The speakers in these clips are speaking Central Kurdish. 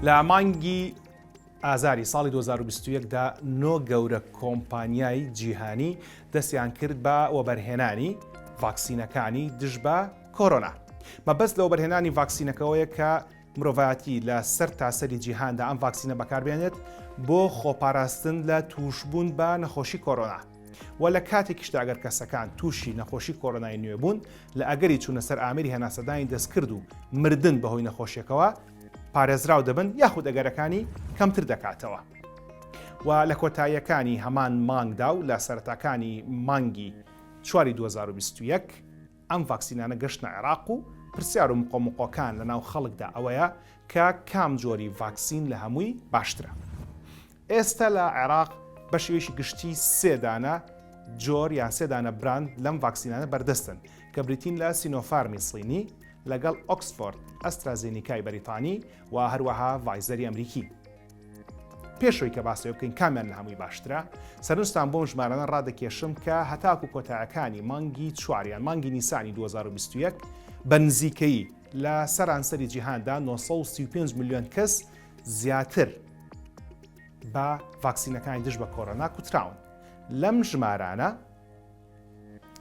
لە مانگی ئازاری ساڵی 2021دا نۆ گەورە کۆمپانیای جیهانی دەستیان کرد بە وەبەرهێنانی ڤاکسینەکانی دژ بە کۆرۆنا. مەبەست لە وەبەرهێنانی ڤاکسینەکەەوەیە کە مرۆڤایەتی لە سەر تاسەری جیهاندا ئەم ڤاکسینە بەکاربێنێت بۆ خۆپاراستن لە تووشبوون بە نەخۆشی کۆرۆنا و لە کاتێکیشدا ئەگەر کەسەکان تووشی نەخۆشی کۆرۆنای نوێ بوون لە ئەگەری چوونە سەر ئامری هەناسەدانی دەستکرد و مردن بەهۆی نەخۆشیەکەوە پارێزراو دەبن یاخود ئەگەرەکانی کەمتر دەکاتەوە. و لە کۆتاییەکانی هەمان مانگدا و لە سەرەتاکانی مانگی چواری 2021 ئەم ڤاکسینانە گەشتنە عێراق و پرسیار و مقۆمقۆکان لە ناو خەڵکدا ئەوەیە کە کام جۆری ڤاکسین لە هەمووی باشترە؟ ئێستە لە عێراق بە شێوەیەکی گشتی سێ دانە جۆر یان سێ دانە براند لەم ڤاکسینانە بەردەستن کە بریتین لە سینۆفارمی صینی لەگەڵ ئۆکسفۆرد ئەسترازێنیکای بەریتانی و هەروەها ڤایزەری ئەمریکی. پێش ئەوەی کە باس لێ بکەین کامیان لە هەمووی باشترە سەرنجتان بۆم ژمارانە ڕادەکێشم کە هەتاکو کۆتایەکانی مانگی چواریان مانگی نیسانی 2021 بە نزیکەی لە سەرانسەری جیهاندا 935 میلیۆن کەس زیاتر بە ڤاکسینەکانی دژ بە کۆرۆنا کوتراون لەم ژمارانە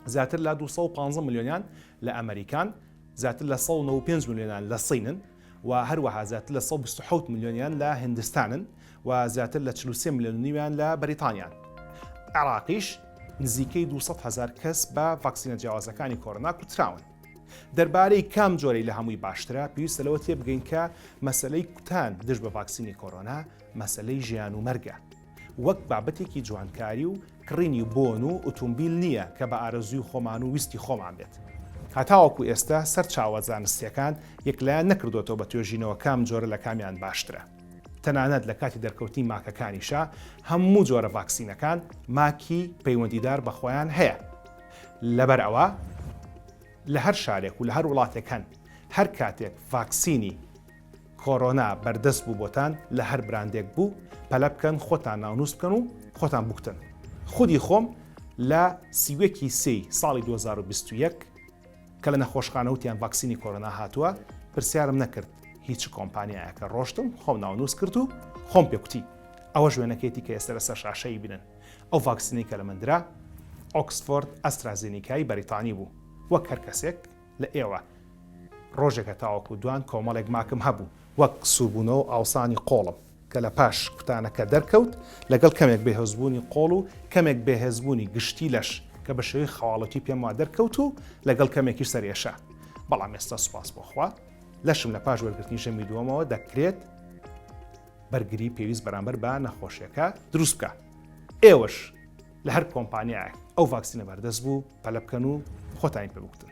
زیاتر لە 215 میلیۆنیان لە ئەمریکان زیاتر لە 195 میلیۆنان لە سینن و هەروەها زیاتر لە سەد و بیست و حەوت ملیۆنیان لە هیندستانن و زیاتر لە چل و سێ ملیۆن و نیویان لە بەریتانیان. عێراقیش نزیکەی دوو سەد هەزار کەس بە ڤاکسینە جیاوازەکانی کۆرۆنا کوتراون. دەربارەی کام جۆرەی لە هەمووی باشترە، پێویستە لەوە تێبگەین کە مەسەلەی کوتان دژ بە ڤاکسینی کۆرۆنا مەسەلەی ژیان و مەرگە. وەک بابەتێکی جوانکاری و کڕینی بۆن و ئوتومبیل نییە کە بە ئارەزووی خۆمان و ویستی خۆمان بێت. هەتاوەکو ئێستا سەرچاوە زانستییەکان یەکلایەن نەکردۆتەوە بە توێژینەوە کام جۆرە لە کامیان باشترە. تەنانەت لە کاتی دەرکەوتنی ماکەکانیشا هەموو جۆرە ڤاکسینەکان ماکی پەیوەندیدار بە خۆیان هەیە. لەبەر ئەوە لە هەر شارێک و لە هەر وڵاتێک هەن. هەر کاتێک ڤاکسینی کۆرۆنا بەردەست بوو بۆتان لە هەر براندێک بوو پەلە بکەن خۆتان ناونووس بکەن و خۆتان بوکتن خودی خۆم لە سی و یەک ی سێی ساڵی دوو هەزار و بیست و یەک کە لە نەخۆشخانە وتیان ڤاکسینی کۆرۆنا هاتووە پرسیارم نەکرد هی چ کۆمپانیایەکە ڕۆشتم خۆم ناونووس کرد و خۆم پێ کوتی ئەوەش وێنەکەیەتی کە ئێستا لەسەر شاشە ئیبنن ئەو ڤاکسینەی کە لە من درا ئۆکسفۆرد ئەسترازینیکای بەریتانی بوو وەک هەر کەسێک لە ئێوە ڕۆژێکە تاوەکو دوان کۆمەڵێک ماکم هەبوو وەک سووربوونەوە ئاوسانی قۆڵم کە لە پاش کوتانەکە دەرکەوت لەگەڵ کەمێک بەهێزبوونی قۆڵ و کەمێک بەهێزبوونی گشتی لەش کە بە شێوەی خەواڵەتی پێم وا دەرکەوت و لەگەڵ کەمێکی سەرێشە بەڵام ئێستا سوپاس بۆخوا لەشم لە پاش وەرگرتنی ژەمی دووەمەوە دەکرێت بەرگری پێویست بەرامبەر بە نەخۆشیەکە دروست بکە ئێوەش لە هەر کۆمپانیایەک ئەو ڤاکسینە بەردەست بوو پەلە بکەن و خۆتانی پێ بکتن